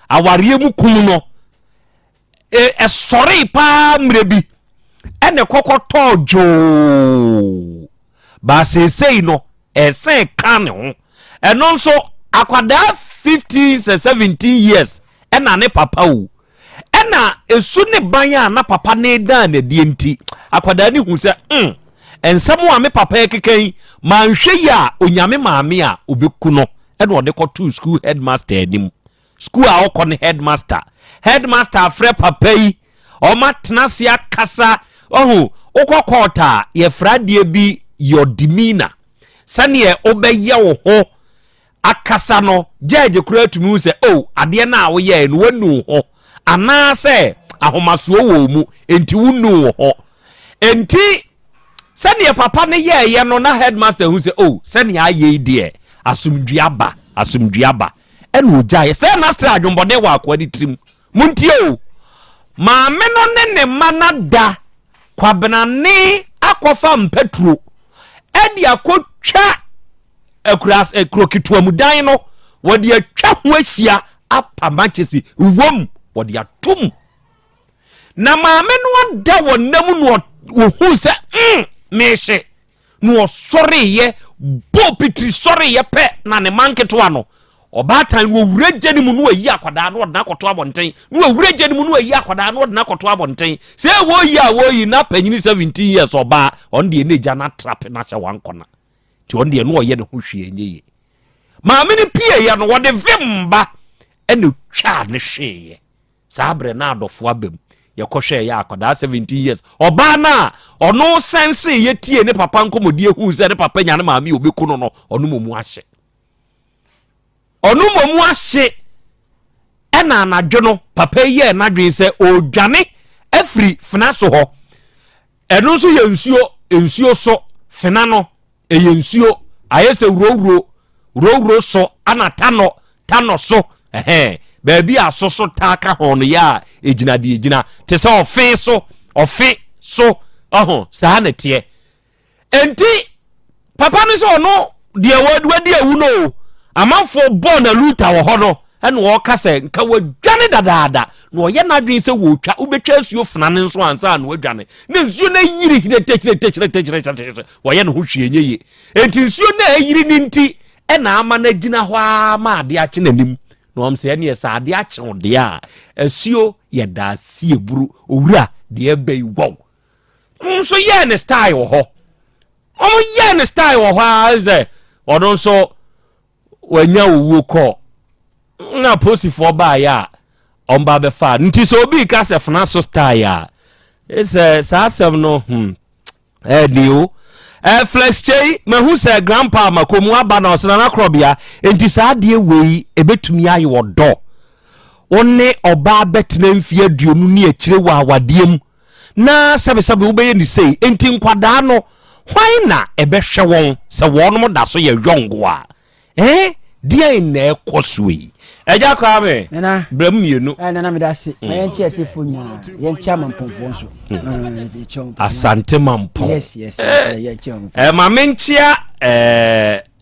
awareɛ mu kum no. Ɛsɔree paa mmerɛ bi na ɛkɔ kɔtɔɔ dwoo, but seesei no ɛsɛn ka ne ho. Ɛno nso akwadaa fifteen sɛ seventeen years na ne papa wu. Ɛna esu ne ban a na papa no redan no adie nti, akwadaa no hu sɛ hmm, nsɛm a me papa rekeka yi, manhwɛ yie a ɔnya me maame a ɔbɛku no. Ɛna ɔde kɔtoo school headmaster anim. Sukuu a ɔkɔ no headmaster. Headmaster afrɛ papa yi, wɔatena ase akasa. Wahu, wokɔ court a, wɔfrɛ adeɛ bi your demeanour. Sɛdeɛ wobɛyɛ wo ho akasa no, judge koraa tumi hu sɛ, oh, adeɛ no a woyɛeɛ no, woanu wo ho. Anaasɛ ahomasoɔ wɔ wo mu, enti wonnuu wo ho. Enti, sɛdeɛ papa no yɛeɛ no, na headmaster hu sɛ, oh, sɛdeɛ ayɛ yi deɛ, asomdwoeɛ aba, asomdwoeɛ aba. Ɛna ɔgyaeɛ. Sɛɛ na asɛ adwemmɔne wɔ akoa no tirim. Montie o! Maame no ne ne mma no ada Kwabenane akɔfa mpaturo de akɔtwa akuraase, eh, kuro ketewa mu dan no, wɔde atwa ho ahyia apa mankyese wom, wɔde atom. Na maame no ada wɔ nam na ɔhuu sɛ, mm, mehye. na ɔsɔreeɛ bɔɔ pitiri sɔreeɛ pɛ na ne ma nketewa no ɔbaatan no ɔwura gya no mu na ɔyi akwadaa no ɔde no akɔto abɔnten na ɔwura gya no mu na ɔyi akwadaa no ɔde no akɔto abɔnten sɛ wɔyi a wɔyi na panyini seventeen years ɔbaa ɔno deɛ na agya no atrape no ahyɛ wankɔna nti ɔno deɛ na ɔyɛ ne ho hwee nyɛ yie maame no pieeɛ no wɔde vem ba ɛna twaa ne hweeɛ Saa berɛ na adɔfoɔ aba mu. Yɛkɔhwɛɛ yɛ akwadaa 17 years. Ɔbaa no a ɔno sɛnseeɛ tiee ne papa nkɔmmɔdie huu sɛ ne papa nya ne maame a ɔbɛku no no, ɔno mmom ahye. Ɔno mmom ahye ɛna anadwo no papa yi yɛɛ n'adwene sɛ ɔredwane afiri Fenaso hɔ. Ɛno nso yɛ nsuo, nsuo so, fena no, ɛyɛ nsuo, ayɛ sɛ wurowuro, wurowuro so, ana tanɔ, tanɔ so, ɛhɛn, baabi a so so taa ka ho no yɛ a ɛgyina deɛ ɛgyina, te sɛ ɔfe so, ɔfe so, ɔho, saa na ɛteɛ. Enti, Papa no sɛ ɔno deɛ wadi awu no o, amanfoɔ bɔɔ no aluta wɔ hɔ no na ɔreka sɛ nka wadwane dadaada na ɔyɛ n'adwene sɛ wɔretwa, wobɛtwa nsuo fena no nso ansa na wadwane na nsuo no ayiri hyeretekyretekyretekyretekyre, wayɛ ne ho hwee nyɛ yie. Enti nsuo no a ayiri no nti na ama no agyina hɔ ara ma adeɛ akye n'anim na wɔn sɛ ɛneɛ sɛ adeɛ akye wo deɛ a, asuo yɛ daasie buru owura deɛ ɛbɛyi wɔw. Wɔn nso yɛɛ ne style wɔ hɔ. Wɔn yɛɛ ne style wɔ hɔ ara sɛ ɔno nso wanya owuo kɔ. Na posifoɔ baayɛ a wɔn ba bɛfa. Nti sɛ obi ka sɛ fena so style a, sɛ saa asɛm no hmm ɛni o. Eh, flex kyei mahu sɛ grandpa makomu aba na ɔsena na korɔbea nti saa adeɛ wei ebetumi ayɛ ɔdɔ. Wo ne ɔbaa bɛtena mfie aduonu ne akyire wɔ awadeɛ mu. na sɛbesɛbe wobɛyɛ no sei. Enti nkwadaa no, hwan na ɛbɛhwɛ wɔn sɛ wɔnom da so yɛ yɔngo a? Ɛɛ, deɛn na ɛkɔ so yi? Agya koraa me, Nana, berɛ mu mmienu. Ɛ, Nana, meda ase. Ma yɛn kye atiefoɔ nyinaa. Yɛn kye amampɔnfoɔ nso. Asante mampɔn. Yes, yes, yes, yɛn kye wɔn. Ɛɛ, ma menkyea ɛɛ.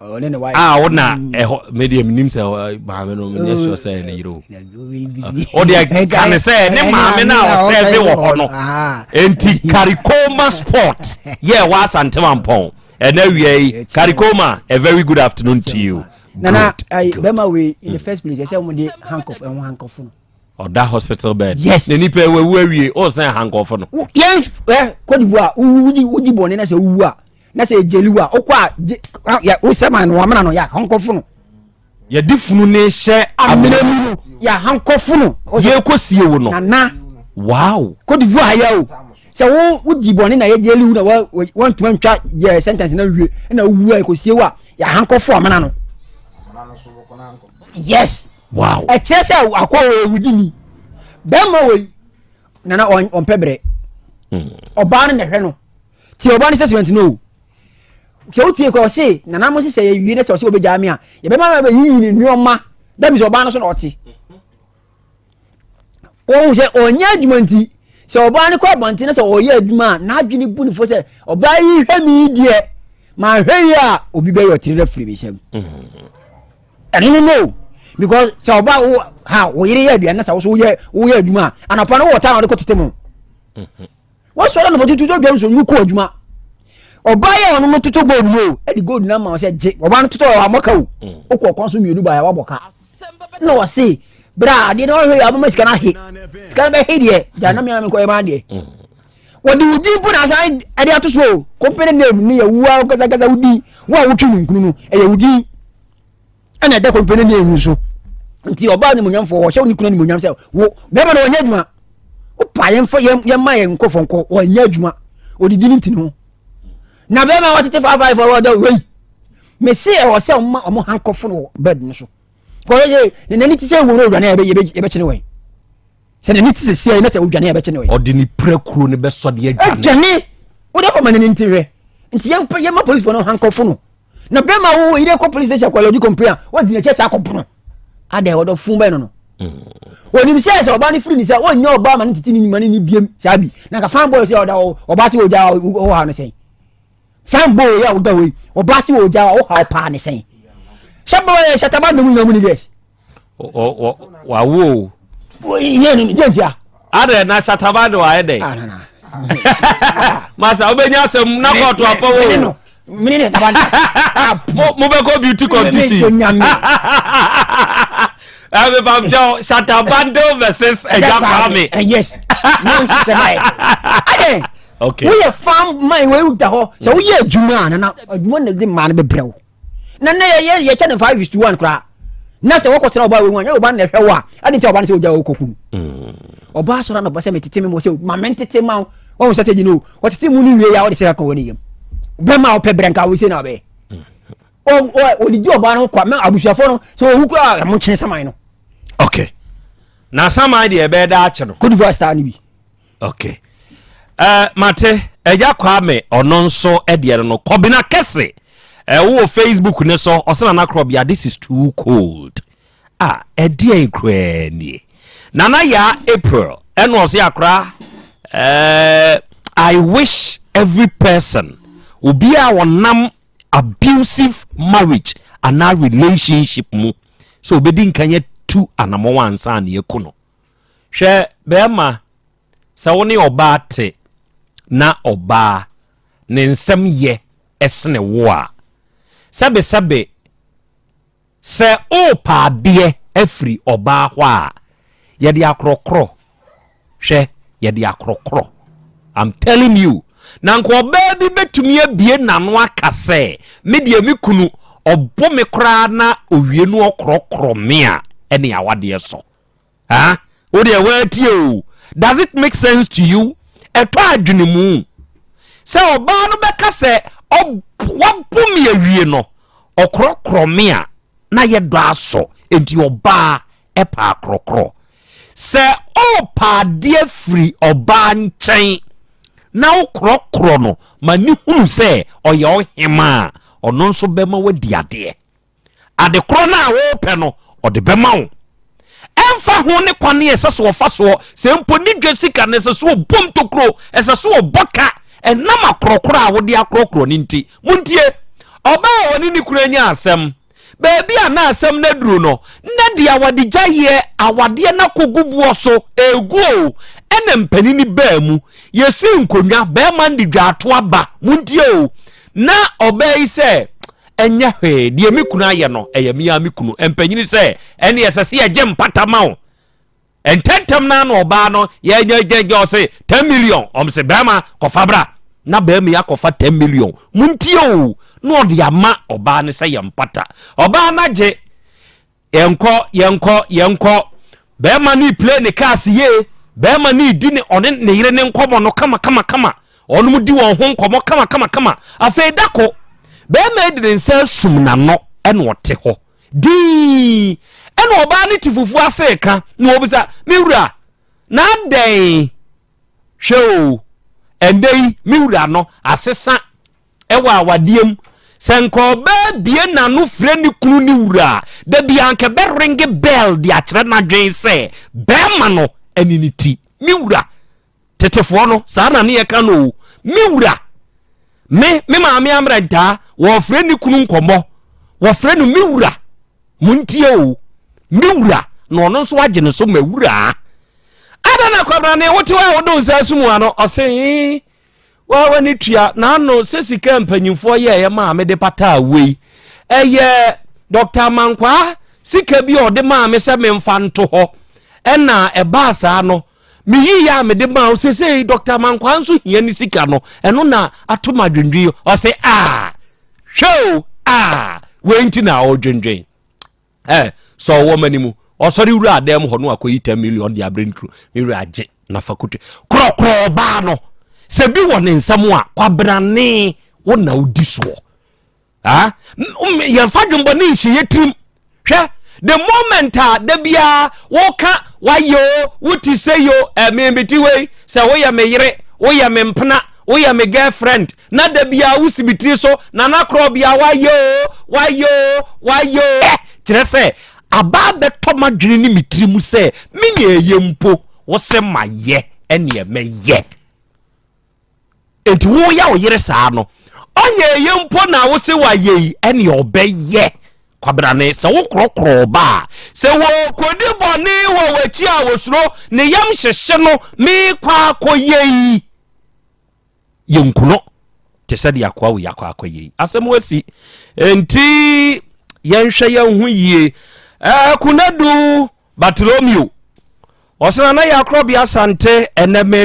a wona ɛhɔ medeɛ menim sɛ maame no menyɛ sure sɛ ɛne yere o wodeɛ ka ne sɛ ne maame no a ɔsɛ me wɔ hɔ no enti karikoma sport yɛ wɔ asantema mpɔn ɛna awia yi karikoma a very good afternoon to you nana bɛma wei in the mm. first place ɛsɛ wɔn de handcuff ɛho eh, handcuff no ɔda hospital bed yes na nipa ewu awie ɔsan handcuff no yɛn ɛ kɔdibu a wudi wudi bɔnne na sɛ wuwu a na sɛ ɛgyeli wo a wokɔ a wosɛma no wɔmena no yɛ ahankɔfo no yɛde funu ne hyɛ amena mu no yɛ ahankɔfo no yɛkɔ sie wo no nana wow kɔdivu ayɛ o sɛ wo wodi bɔne na yɛgyeli wo na woantuma ntwa yɛ sentence na wie na wowu a ɛkɔsie wo a yɛ ahankɔfo amena no yes wow ɛkyerɛ sɛ akɔ wɔ ɛwudi ni bɛrima wei nana ɔmpɛ berɛ hmm. ɔbaa no na ɛhwɛ no ti ɔbɔ ne statement no o sɛ wotie kɔ ɔse nana mo sesɛ yɛwie ne sɛ ɔse wɔbɛgyaa me a yɛbɛma ma bɛyiyi ne nneɔma da bi sɛ ɔbaa no so na ɔte wɔhu sɛ ɔnyɛ adwuma nti sɛ ɔbaa no kɔ abɔnten no sɛ ɔyɛ adwuma a n'adwene bu ne fo sɛ ɔbaa yi hwɛ me deɛ manhwɛ yi a obi bɛyɛ ɔtiri no afiri me nsam ɛno no no because sɛ ɔbaa wo ha wo yere yɛ aduane na sɛ wo so woyɛ adwuma a anɔpa no wowɔ taa na wode kɔtete mu wɔsɔre anɔpɔtu tu dwa nsuo mu kɔ adwuma ɔbaa yɛ ɔno no toto gold mu o ɛde gold no ama sɛ gye ɔbaa no toto ɔwɔ amɔka o wokɔ ɔkwan so mmienu baeɛ wabɔ ka na wɔse berɛ a adeɛ no ɔhwɛ yɛ aboma sika no ahe sika no bɛhe deɛ gya na meame nkɔyɛ maa deɛ wɔde wo din po na asan ɛde ato so o company name ne yɛ woa kasakasa wo din wo a wotwe no nkunu no ɛyɛ wo din ɛna ɛda kɔmpɛ no ne ɛnwu so nti ɔbaa animonyamfoɔ wɔhyɛ wo ne kunu animonyam sɛ wo bɛrima no wɔnyɛ adwuma wopa yɛmfa yɛma yɛ nkɔfɔnkɔ wɔnyɛ adwuma ɔdidi no nti no na bɛrima a wɔtete faafae fɔ wɔda wei mese ɛwɔ sɛ ɔma ɔmo hankɔfo no wɔ bɛd no so kɔyɛ yɛ ne nani te sɛ wuo no owura no yɛbɛkyene wɔn sɛ n'ani te sɛ siae na sɛ odwane a ɛbɛkye no ɛ. ɔde ne pirakuro no bɛsɔ deɛ adwane. adwane wode akɔ ma n'ani nte hwɛ nti yɛma policefoɔ no hankɔfo no na bɛrima wo yere kɔ police station akɔ lɔgye complain a wadi n'akyɛ sɛ akɔpono adɛn wɔdɔ fun bɛn no no onim mm. sɛ sɛ ɔbaa no firi ne sɛ ɔnyɛ ɔbaa ma ne tete ne nyima ne ne biem saa bi na ka fan boy sɛ ɔda ɔbaa sɛ ɔgya ɔha no sɛn fan boy yɛ ɔda hɔ yi ɔbaa sɛ ɔgya ɔha ɔpaa ne sɛn hyɛ bɛwɔ yɛ hyɛ taba nnɔmu nyina mu ne gɛs wawo o. yɛ ni jɛ ntia. adɛ na sataba de wa ayɛ dɛ. masa wobɛnya asɛm na kɔɔto apɔ wo mobɛkɔ beauty competition mepamkyɛ shatabande versus agya kwame woyɛ fam man woda hɔ sɛ woyɛ adwuma a nana adwuma na de maa no bɛbrɛ wo na na yɛyɛ yɛkyɛ no five is to one koraa na sɛ wɔkɔ tena ɔbaa wɔ mu a nyɛ ɔbaa na ɛhwɛ wɔ a ɛde nti ɔbaa no sɛ ɔgya ɔkɔ kun ɔbaa sɔrɔ na ɔbɔ sɛ metete me mu sɛ ma me ntete ma wo wɔn sɛ sɛ gyina o ɔtete mu no wie ya ɔde sɛ ɛkɔ wɔ ne yam bɛma ɔpɛ brɛ nka wo sɛ na ɔbɛyɛ ɔde gye ɔbaa no kɔ mɛ abusuafoɔ no sɛ ɔwu kura a ɛmo nkyene saman no. ok na saman deɛ ɛbɛyɛ daa akyi no. kodivoire star no bi. okay uh, mate agya kwame ɔno nso ɛdeɛ no no kɔbena kɛse uh, wowɔ facebook ne so ɔsɛ nana korɔ bia this is too cold ah ɛdeɛ koraa nie nana yaa april ɛna ɔsɛ akora uh, i wish every person obi a wɔnam abusive marriage anaa relationship mu sɛ obɛdi nkanyɛ tu anamɔwa ansa ne ɛku no Hwɛ bɛɛma, sɛ wo ne ɔbaa te na ɔbaa ne nsɛm yɛ sene wo a, sɛbesɛbe sɛ oopɛ adeɛ afiri ɔbaa hɔ a, yɛde akorɔkorɔ, hwɛ, yɛde akorɔkorɔ. I'm telling you, na nka ɔbaa bi bɛtumi abie n'ano aka sɛ, me deɛ me kunu ɔbo me koraa na owie no ɔkorɔkorɔ me a, ɛne awadeɛ sɔ. ah wo deɛ woatie o does it make sense to you ɛtɔ adwene mu sɛ ɔbaa no bɛka sɛ wabɔ me awie no ɔkorɔkorɔ me a na yɛ dɔ asɔ nti ɔbaa ɛpa akorɔkorɔ sɛ ɔpa adeɛ firi ɔbaa nkyɛn na wokorɔkorɔ no ma ne hunu sɛ ɔyɛ ɔhema a ɔno nso bɛma wadi adeɛ Ade korɔ no a worepɛ no, ɔde bɛma wo. Ɛmfa ho ne kwane a ɛsɛ sɛ ɔfa soɔ, sɛ mpo ne dwa sika no, ɛsɛ sɛ ɔbɔ mu tokuro, ɛsɛ sɛ ɔbɔ ka, ɛnam akorɔkorɔ a wode akorɔkorɔ no nti. Montie! Ɔbaa a ɔne ne kunu anya asɛm, baabi a na asɛm no aduru no, na deɛ awadegyaeɛ, awadeɛ no akɔgu boɔ so, ɛregu o, ɛna mpanini baa mu, yɛsii nkonnwa, barima no de dwaatoa ba, montie o, na ɔbaa yi sɛ, Ɛnyɛ hwee, deɛ me kunu ayɛ no, ɛyɛ me ara me kunu. Mpanyini sɛ, Ɛnneɛ ɛsɛ sɛ yɛgye mpata ma wo. Ntɛntɛm no ara na ɔbaa no yɛgyɛgyɛgyɛ ɔse, 10 million. Wɔn se, Barima, kɔfa bra. Na barima yi akɔfa 10 million. Montie o! Na ɔde ama ɔbaa no sɛ yɛ mpata. Ɔbaa no agye. Yɛnkɔ yɛnkɔ yɛnkɔ. Bɛɛma no play ne cars yie, bɛɛma no di ne ɔne ne yere ne nkɔmɔ no kama kama kama, ɔnom di wɔn ho nkɔmɔ kama kama kama, afei dako bɛɛma yi de ne nsa asum n'ano ɛna ɔte hɔ dinn ɛna ɔbaa no te fufuo ase reka na ɔbisa me wura na adɛn hwɛ o ɛndɛ yi me wura no asesa wɔ awadeɛ mu sɛ nka ɔbaa bie n'ano frɛ ne kunu ne wura a da biara nka ɛbɛ ringe bell de akyerɛ n'adwen sɛ bɛɛma no ɛne ne ti me wura tetefoɔ no saa na ne yɛ ka no o me wura me me maame amrɛ ntaa wɔfrɛ ne kunu nkɔmmɔ wɔfrɛ no me wura mo ntie o me wura na ɔno nso agye ne so ma wura ada na kwabrane wote hɔ a wode nsa sum ano ɔse Waa w'ani tua n'ano sɛ sika a mpanyimfoɔ yɛeɛ maa me de pataa wei. Ɛyɛ Dɔkta Amankwaa sika bi a ɔde maa me sɛ memfa nto hɔ. Ɛna ɛbaa saa no, meyiiɛ a mede maa wo. Seesei Dɔkta Amankwaa nso hia ne sika no. Ɛno na ato me adwendwen yi. Ɔse, ah! Hwɛ o, ah! Wei nti na ɔredwendwen. Ɛ, sɛ ɔwɔ m'ani mu. Ɔsɔre wura adan mu hɔ no akɔyi ten million de abrɛ ne kunu. Me werɛ agye na fa kote. Korɔkorɔ ɔbaa no. Sɛ bi wɔ ne nsam a, kwabrane wo na wodi soɔ. Ah, yɛmfa dwembɔ ne nhyɛ yɛ tirim. Hwɛ, the moment a da biara woka wayɛ o, wote sɛ yo, ɛmebete wei, sɛ woyɛ me yere, woyɛ me mpena, woyɛ me girlfriend, Na da biara wo si me tiri so, Nana Korɔ bia wayɛ o, wayɛ o, wayɛ o. Ɛ kyerɛ sɛ aba abɛtɔ m'adwene ne me tiri mu sɛ me nea ɛyɛ mpo wo se mayɛ ɛneɛ mɛyɛ. Enti wo yɛ wo yere saa no, ɔnyɛ ɛyɛ mpo na wo se wayɛ yi ɛneɛ ɔbɛyɛ. Kwabena ne sɛ wo korɔkorɔ ɔba a, sɛ wɔɔkɔdi bɔne wɔ w'akyi a wɔsuro, ne yam hyehye no, meekɔ akɔyɛ yi. yɛnkuno te sɛ deɛ akoa wei akɔ akɔyɛ yi asɛm asi nti yɛnhwɛ yɛn ho yie ɛɛ kunadu batilomio ɔsena na yɛakorɔ bi asante ɛnɛ mehwɛ